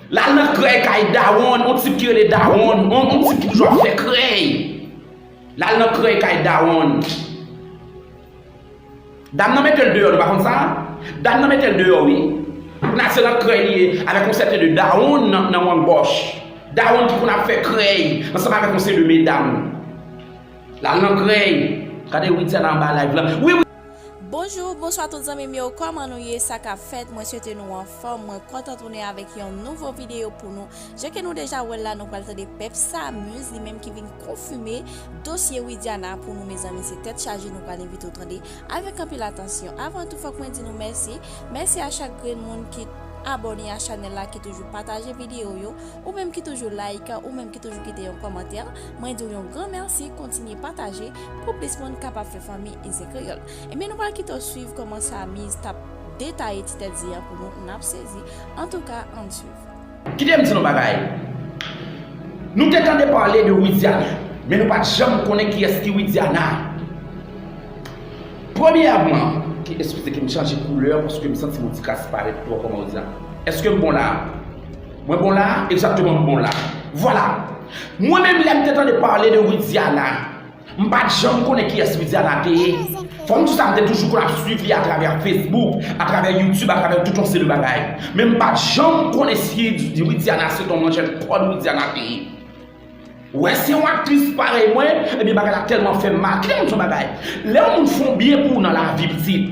L al nan krèy kay dawonn, yon tip ki rele dawonn, yon tip ki toujou ap fè krèy. L al nan krèy kay dawonn. Dam nan metel deyò nou pa konn sa? Dam nan metel deyò wi Poukina se nan krèy li ye avèk yon sèten de dawonn nan wonn gòch Dawonn ki konn ap fè krèy ansanm avèk yon seri de medam Lal nan krèy Gade Widya nan anba live lan wi wi. Bonjour bonswa tout zanmim yo kòman nou ye sakap fèt mwen swete nou anfòm mwen kontan tounen avèk yon nouvo video pou nou Jan ke nou deja wèl la nou pral tande pèp samuz li menm ki vin konfime dosye widiana pou nou mezanmi se tèt chaje nou pral envite w tande avèk anpil atansyon avan tou fòk mwen di nou mèsi mèsi a chak grenn moun ki abòne a chanèl la ki toujou pataje video yo ou menm ki toujou like ou menm ki toujou kite yon kòmantè mwen di w yon gran mèsi kontinye pataje pou plis moun kapab fè fanmi Ize Kreyòl ebyen nou pral kite w swiv kòman samuz tap detaye ti tèt zi an pou nou nap sezi antouka ann swiv. Kite m di nou bagay. Nou te tande pale de Widiana, men nou pa t janm konnen kiyès ki Widiana. Premyèman, ki eskize ke m chanje koulè paske m santi m yon ti kras parèt twò kòman yo di la. Eske m bon la a? Mwen bon la a? Egzakteman m bon la a. Vwala! Mwen menm lè m te tande pale de Widiana. M pat janm konnen kiyès Widiana te ye. Fanm chita m te toujou konn ap swiv li atravè Facebook, atravè YouTube, atravè tout yon seri bagay. Men m pat janm konnen si Widiana se t yon manjèt kòd Widiana te ye. Wè se yon aktris parèy mwen, ebyen bagay la tèlman fè m mal. Kite m di w yon bagay, lè yon moun fè yon byen pou w nan lavi pitit,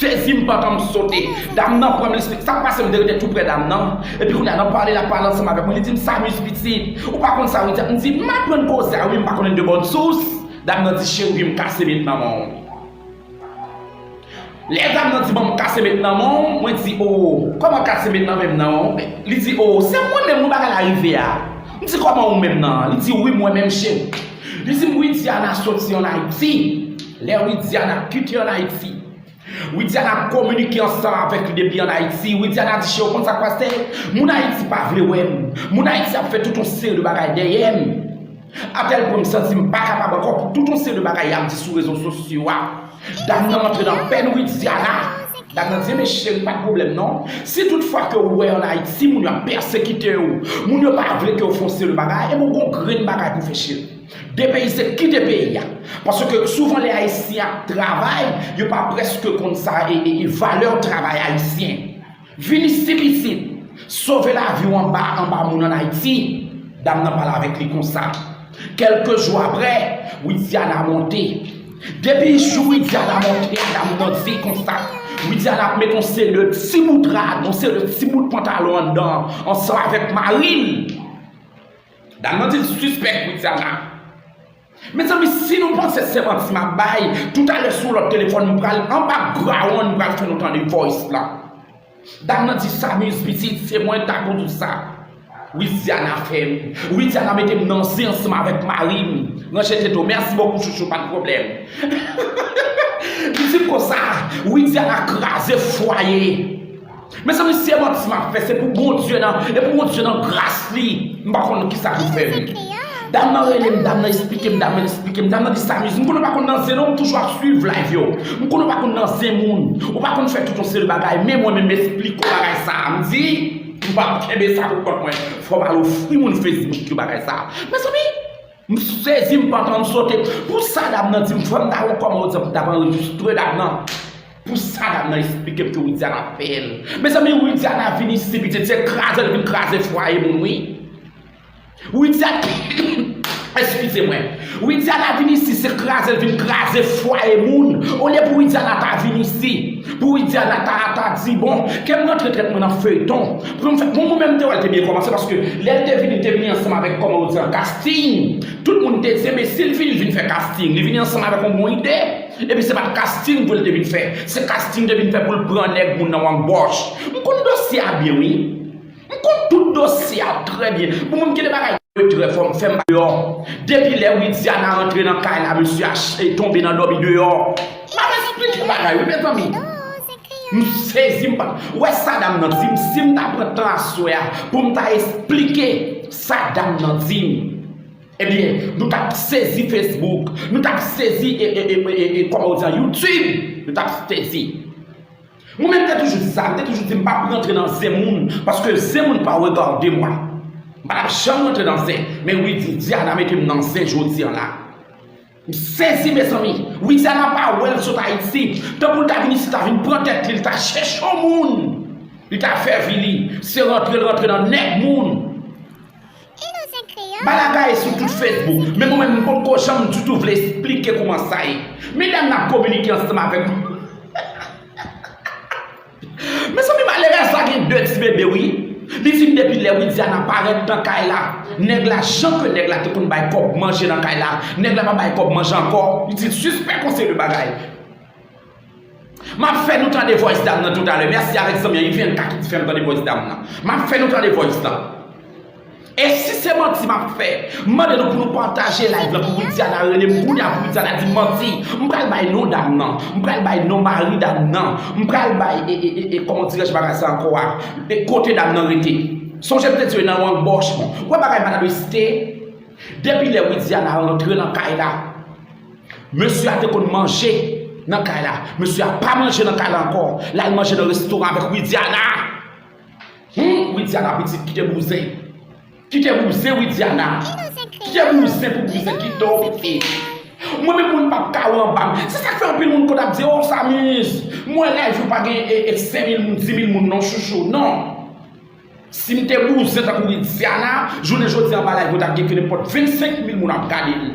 Jezi m pantan m sote Dam nan pranm li se sak pase m te rete tou prè dam nan Epi kounya nan pale lap pale ansanm avèk mwen li dim Samuz pitit ou pa konn sa wi M di m aprann koze a wi m pa konnen de bòn sous Dam nan di cheri m kase met nan menw Lè dam nan di banm kase met nan menw mwen di oo kòman kase met nan menm nan Li di oo se mwen menm wi bagay la rive a M di kòman ou menm nan Li di wi mwen menm cheri Li dim Widiana soti an Ayiti Lè Widiana kite an Ayiti, Widiana kominike ansanm avèk li depi an Ayiti. Widiana di Che ou konn sa k pase? Moun Ayiti pa vle wè m. Moun Ayiti ap fè tout yon seri de bagay dèyè m. Atèl pwen m santi m pa kapab ankò pou tout yon seri de bagay y ap di sou rezo sosyo a. Dam nan rantre nan pèn Widiana. Dam nan di e men cheri pa gen pwoblèm non. Si tout fwa ke ou wè an Ayiti moun yo ap pèsekite ou, moun yo pa vle ke ou fè yon seri de bagay, e men ou gen yon grenn bagay pou fè cheri. Depeyise kite peyi a. Paske souvan lè ayisyen ap travay yo pa preske konn sa valè travay ayisyen. Vin isi pitit. Sove lavi w anba anba moun an Ayiti. Dam nan pale avèk li konsa. Kelke jou aprè, Widiana monte. Depi jou Widiana monte a dam nan di konsa. Widiana ap met on seri de ti bout rad, on seri de ti bout pantalon anndan an ansanm avèk mari l. Dam nan di l sispèk Widiana. Mezanmi si nou panse se manti map bay toutalè sou lòt telefòn m pral anba grawonn m pral fè nou tande voice la. Dam nan di Samuz pitit se mwen ta konn ou sa Widiana fè m Widiana mete m nan zen ansanm avèk mari m ranje tete w mèsi bokou chouchou pat pwoblèm Li di m konsa Widiana kraze fwaye Mezanmi si e manti map fè se pou Bondye nan e pou Bondye nan gras li m pa konn kisa pou fèm dam nan relem dam nan esplikem dam nan esplikem dam nan di sa mizi m konn ou pa konn nan zen non m toujou ap swiv live yo m konn ou pa konn nan zen moun ou pa konn fè tout yon seri bagay men mwen menm m esplik ou bagay sa m di m pap kenbe sa pou kont mwen fòm al ofri moun Facebook yo bagay sa mezanmi. M sezi m pantan m sote pou sa dam nan dim fòm ta wè kòman ou t ap anrejistre dam nan pou sa dam nan esplike m ke Widiana ap peye l mezanmi Widiana vin isi pitit se kraze l vin kraze fwaye moun wi Widiana eskize mwen Widiana vin isi se kraze l vin kraze fwaye moun olye pou Widiana ta vin isi pou Widiana ta di bon ke m rantre tèt mwen nan feyton. Pranm fèt moun mwen menm te wèl te byen kòmanse paske lèl te vini li te vini ansanm avèk kòman yo di an casting tout moun te di enbesil vini li vin fè casting li vini ansanm avèk yon bon ide epi se pat casting vre li te vin fè se casting li te vin fè poul pran nèg moun nan an bòch m konn dosye a byen wi m konn tout dosye a trè byen bon mwen m gen de bagay mwen trè fò m fèm deyò depi lè widiana rantre nan kay la mesye a tonbe nan dòmi deyò. Madan sa plis ke bagay wi mezanmi M sezi m pa wè sa dam nan di m si m ta pran tan aswè a pou m ta esplike sa dam nan di m ebyen nou t ap sezi Facebook nou t ap sezi e kòman ou di a YouTube nou t ap sezi Mwen menm m te toujou di sa m te toujou di m pa p rantre nan zen moun paske zen moun pa regade mwen m pa t ap janm rantre nan zen men wi Widiana mete m nan zen jodi an la. M sezi mezanmi. Widiana pa wè l sot Ayiti. Tankou l ta vin isit la vin pran tèt li. L ta chèche yon moun li ta fè vi li. Se rantre l rantre nan nèg moun. Bala ga ye sou tout Facebook. Men mwen menm m potko janm ditou vle esplike kouman sa ye. Medam nan ap kominike ansanm avèk m. Mezanmi malerèz la gen 2 ti bebe wi Li fin depi lè widiana parèt nan kay la nèg la jan ke nèg la te konn bay kòb manje nan kay la nèg la pa bay kòb manje ankò li di l sispèk yon seri de bagay Map fè nou tande voice dam nan toutalè mèsi avèk zanmi an ivnka ki t fèm tande voice dam nan Map fè nou tande voice la. E si se manti map fè. M mande nou pou nou pataje live lan pou widiana rele m kounya pou widiana di manti m pral bay non dam nan m pral bay non mari dam nan m pral bay e kòman w dirèj bagay sa ankò a e kote dam nan rete sonje m te diw e nan yon bòch ou wè bagay madame Esthé depi lè widiana rantre nan kay la mesye a te konn manje nan kay la mesye a pa manje nan kay la ankò l al manje nan restoran avèk widiana Humm widiana pitit kite bouzen kite bouzen widiana kite bouzen pou bouzen kite w piti mwen menm moun pap ka ou anbam se sak fè anpil moun konn ap di oh samuz mwen live ou pa gen e 5000 moun 10000 moun non chouchou non sim te bouzen tankou widiana jounen jodi anba live mwen tap gen ke nenpòt 25000 moun ap gade m.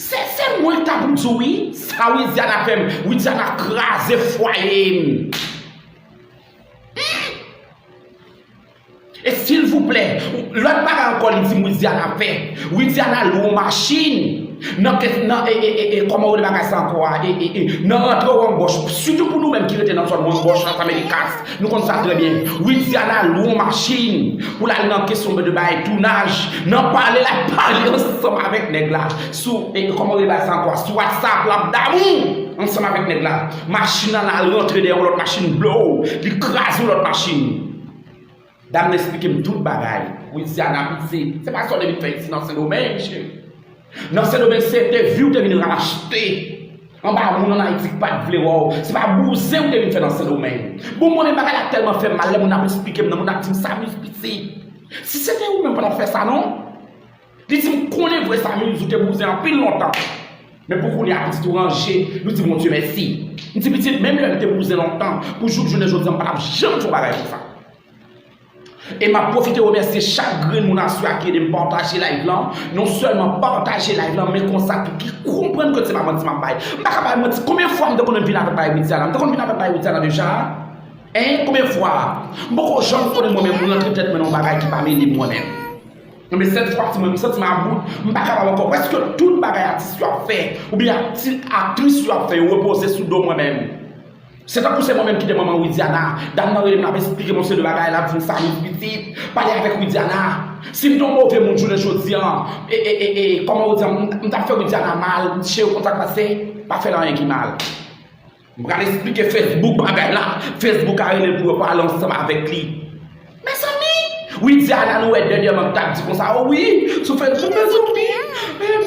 Se sel mwen ta pou diw wi sa widiana fem widiana kraze fwayem humm e silvouplè lot bagay anko li dim widiana fè widiana lwe yon machin nan kes nan ee koman rele bagay sa anko a ee nan rantre wanboch sitou pou nou menm ki rete nan zon wanboch las americas Nou konn sa trè byen. Widiana lwe yon machin pou l al nan kesyon de bay tounaj, nan pale l ap pale ansanm avèk nèg la sou kòman rele bagay sa ankò sou whatsapp l ap damou ansanm avèk nèg la. Machin nan al rantre dèyè yon lòt machin blow li kraze yon lòt machin. Dam nan esplike m tout bagay. Louisiana piti, se pa sa w te vin fè isi nan Sendomeng cheri. Nan Sendomeng se entevyou w te vin rachte anba moun an Ayiti ki pa t vle wè w. Se pa bouzen w te vin fè nan Sendomeng. Bon m konnen bagay la tèlman fè m mal lè moun ap esplike m nan moun ap di m sa mis piti. Si se te ou menm w pa t ap fè sa non. Li di m konnen vre sa Mills ou te bouzen anpil lontan men pou kounye a pitit ou ranje nou di Bondye mèsi m di pitit menm lè m te bouzen lontan pou jouk jounen jodi an m pa tap janm fè yon bagay konsa e map pwofite remèsye chak grenn moun aswè a ki ede m pataje live lan non sèlman pataje live lan men konsa tou ki konprann ke se pa manti map bay m paka bay manti konbyen fwa m te konnen vin avèk bagay Widiana m te konnen vin avèk bagay Widiana deja hein konbyen fwa m poko janm konnen mwen menm rantre tèt mwen nan yon bagay ki pa mele mwen menm. Anben sèt fwa ti mwen m santi m about, m pa kapab ankò, prèske tout bagay atis yo ap fè oubyen aktris yo ap fè yo repoze sou do mwen menm. Se tankou se mwen menm ki te manman Widiana, dam nan rele m l ap esplike m yon seri de bagay, l ap di m Sanick pitit, pale avèk Widiana. Si m te yon move moun jounen jodi an, e, e, e, e, kòman ou di a, m ta fè Widiana mal, m t cheri konn sa k pase, m pa fè l anyen ki mal. M pral esplike Facebook bagay la, Facebook a rele l pou yo pale ansanm avèk li. Mezanmi! Widiana nou wè dènyèman k t ap di konsa o wi sou Facebook mezanmi!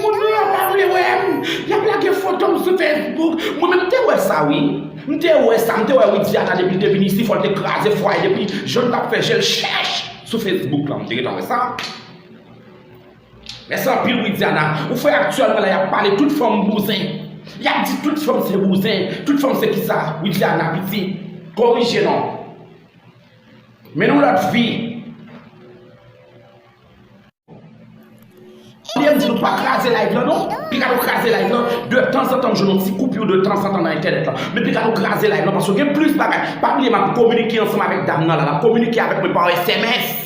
Moun yo yo pa vle wè m, y ap lage foto m sou Facebook. Mwen menm m te wè sa wi, m te wè sa, m te wè Widiana depi l te vin isi fò l te kraze fwaye depi jan l t ap fè je l chèch sou Facebook la m te gentan wè sa. Mèsi anpil Widiana, ou fè aktyèlman la yap pale tout fanm bouzen, yap di tout fanm se bouzen, tout fanm se kisa, Widiana piti korije non, men nou lòt fi. Ou byen di nou pa kraze live lan non, pi ka nou kraze live lan, de tanzantan m jwenn yon ti koupur de tanzantan nan entènèt lan, men pi ka nou kraze live lan paske gen plis bagay, pa bliye map kominike ansanm avèk dam nan la, lap kominike avèk mwen pa sms.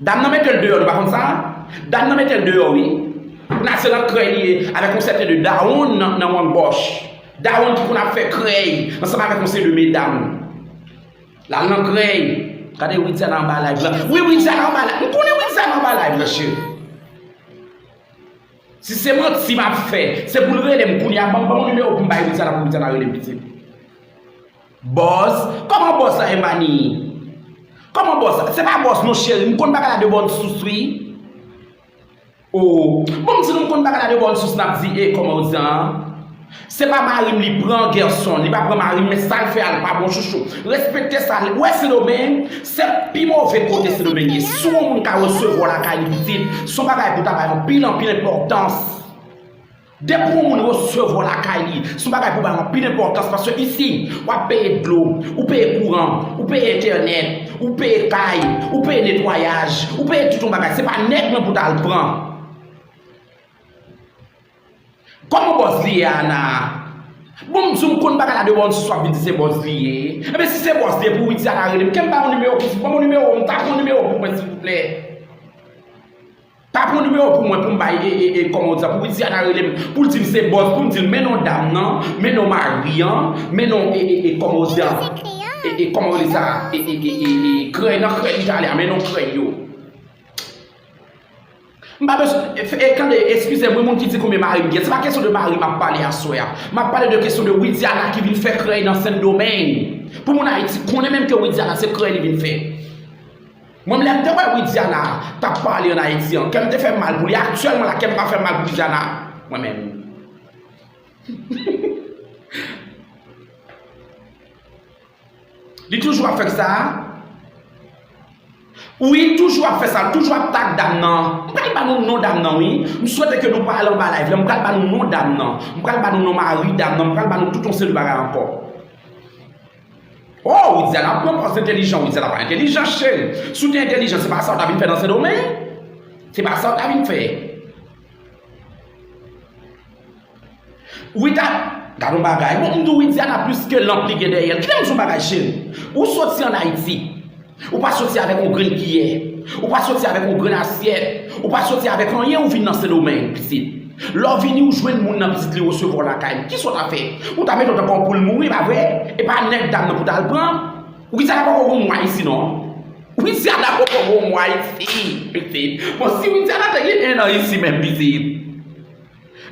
Dam nan metel deyò nou pa konn sa? Dam nan metel deyò wi la se nan krèy li ye avèk yon sèten de dawonn nan wonn gòch dawonn ki konn ap fè krèy ansanm avèk yon seri de medam lal nan krèy gade widiana anba live lan wi widiana anba live lan m konnen widiana anba live lan cheri si se manti map fè se poul relem kounya banm banm yon nimewo poum bay widiana pou widiana relem pitit. Bòz? Kòman bòz sa e Mannie? Kòman bòz sa? Se pa bòz non cheri, m konn bagay la de bòn sous wi. Oo, bon m di nou m konn bagay la de bòn sous n ap di e kòman ou di an an? Se pa mari m li pran Gerson, li pa pran mari m men sa l fè a l pa bon chouchou. Respekte sa, ou wè Sendomeng, se pi move kote Sendomeng ye. Si yon moun ka resevwa w lakay li pitit, se yon bagay pou ta bay anpil anpil enpòtans. Depi yon moun resevwa lakay li, se yon bagay pou bay anpil enpòtans paske isi, w ap peye dlo, ou peye kouran, ou peye entènèt, ou peye kay, ou peye netwayaj, ou peye tout yon bagay. Se pa nèg lan pou ta al pran. Kòman bòz li ye a Ana? Bon m di w m konn bagay la devan w di sou ap vin di se bòz li ye. Enben si se bòz li ye pou Widy Ana rele m. Ke m ba w nimewo w? Ban m yon nimewo w, m ta pran yon nimewo w pou mwen silvouplè. Pa pran nimewo pou mwen poum bay ee kòman ou di sa pou widiana relem poul dim se bòz poum dil men non dam nan men non mari an men non ee kòman ou di ee kòman ou rele sa ee krèy nan krèy li ta ale a men non krèy yo m pa bezwen e tande eskizem wi moun ki di konbyen marim gen se pa kesyon de mari map pale aswè a map pale de kesyon de widiana ki vin fè krèy nan sendomeng pou moun ayiti konnen menm ke widiana se krèy li vin fè. Mwen m lèm te wè widiana tap pale an ayiti an kèm te fèm mal pou li aktyèlman la kèm pa fèm mal pou widiana mwen menm li toujou ap fèm sa wi li toujou ap fèm sa li toujou ap tag dam nan m pral ba nou non dam nan wi m swete ke nou pa al anba live lan m pral ba nou non dam nan m pral ba nou non mari dam nan m pral ba nou tout yon seri bagay ankò. Oh Widiana pran pòz entelijan Widiana pa entelijan cheri Si w te entelijan se pa sa w ta vin fè nan Sendomeng Se pa sa w ta vin fè Wida Gad on bagay Bon m di w Widiana plis ke lanp li gen dèyè l Kite m di w on bagay cheri Ou soti an Ayiti Ou pa soti avèk yon grenn kiyè, ou pa soti avèk yon grenn asyèt, ou pa soti avèk anyen ou vin nan Sendomeng, pitit. Lè w vini ou jwenn moun nan pitit li resevwa w lakay li. Kisa w ta fè? Ou ta mete w dakò pou l mouri, pa vre? E pa nèg dam nan pou w ta al pran? Ou ki di a dakò pou w mwa isi non? Ou ki di a dakò pou w mwa isi, pitit? Bon, si ou di a dakò te gen 1 an isi menm, pitit.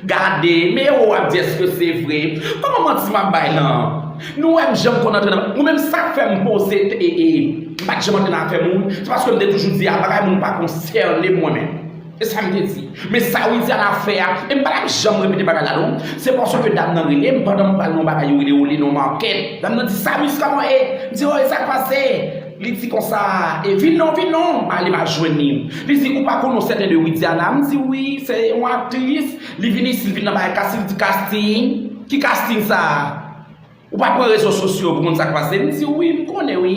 Gade, me yo ap di eske se vre. Koman manti map bay la an. Nou wèm janm konn antre nan, mwen menm sak fèm poze t ee, m pat janm antre nan afè moun, se paskem te toujou di a bagay moun pa konsènem mwen menm. Se sam te di. Men sa Widiana fè a, em pa tap janm repete bagay la non, se paske dam nan relem pandan m pral nan yon bagay yo rele Oly nan market, dam nan di Salut kòman e? M di oh e sak pase? Li di konsa, e vin non, vin non, m ale m al jwenn li. Li di, ou pa konn yon sèten 2 Widiana? M di, wi, se yon aktris. Li vin isi, li vin nan bagay kasting, li di, kasting? Ki kasting sa a? Ou pa pran rezo sosyo pou konn sa k pase? M di, wi, m konnen wi.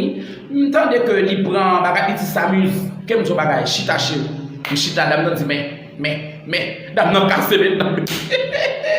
M tande ke li pran bagay, li di, Samuz, ke m di yon bagay, chita cheri. M chita, dam nan di, men, men, men, dam nan kase men nan. Heheheheheh!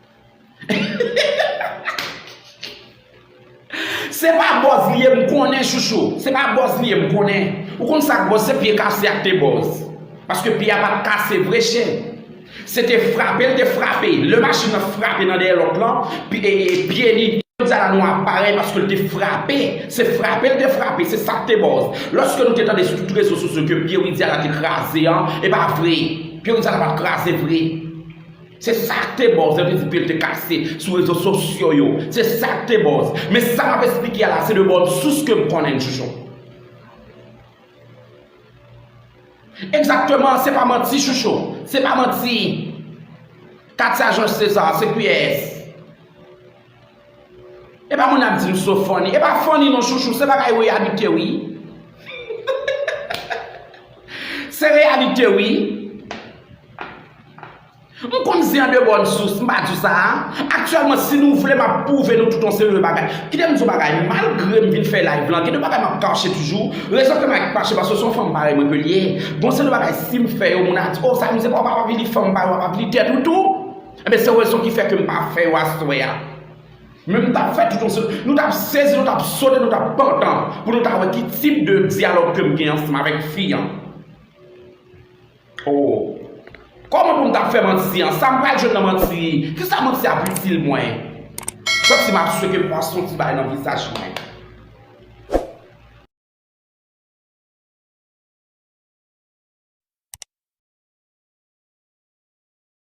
Se pa bòz li ye m konnen chouchou Se pa bòz li ye m konnen Ou konn sa k bòz se pye kase a k te bòz Paske pye a pa t kase vre chen Se te frape l te frape Lè machin nan frape nan dèyè lòt lan Pi e e pye li Jodi a la nou ap pare paske l te frape Se frape l te frape Se sa k te bòz Lòske nou te tande sou tout rezo sosyo ke pye Widiana te kraze an E pa vre Pye Widiana pa t kraze vre Se sa k te buzz, èvens bill te kase sou rezo sosyo yo. Se sa k te buzz. Men sa m ap esplike a la se de bòn sous ke m konnen l chouchou. Egzakteman, se pa manti chouchou. Se pa manti. Katia Georges Cesar, se kiyès? Epa moun ap di m so funny. Epa funny non chouchou se bagay reyalite wi. Se reyalite wi. M konn di an de bon sous m pa di sa a. Aktyèlman si nou vle m ap pwouve nou tout yon seri de bagay. Kite m di yon bagay malgre m vin fè live lan gen de bagay m ap kache toujou. Rezon fè m ak kache paske se yon fanm parèy mwen ke li ye. Gon seri de bagay si m fè yo moun a di oh Samy se pa w pa p ap li fanm parèy w ap ap li tèt ou tou. Ebyen se rezon ki fè ke m pa fè yo aswè a. Men m t ap fè tout yon seri, nou t ap sezi, nou t ap sote, nou t ap pantan pou nou ta wè ki tip de dyalòg ke m gen ansanm avèk fi an. O! Kòman pou m ta fè manti an? Sa m pral jwenn nan manti? Ki sa manti ap itil mwen? Santi m ap seke pwason ti bagay nan vizaj mwen.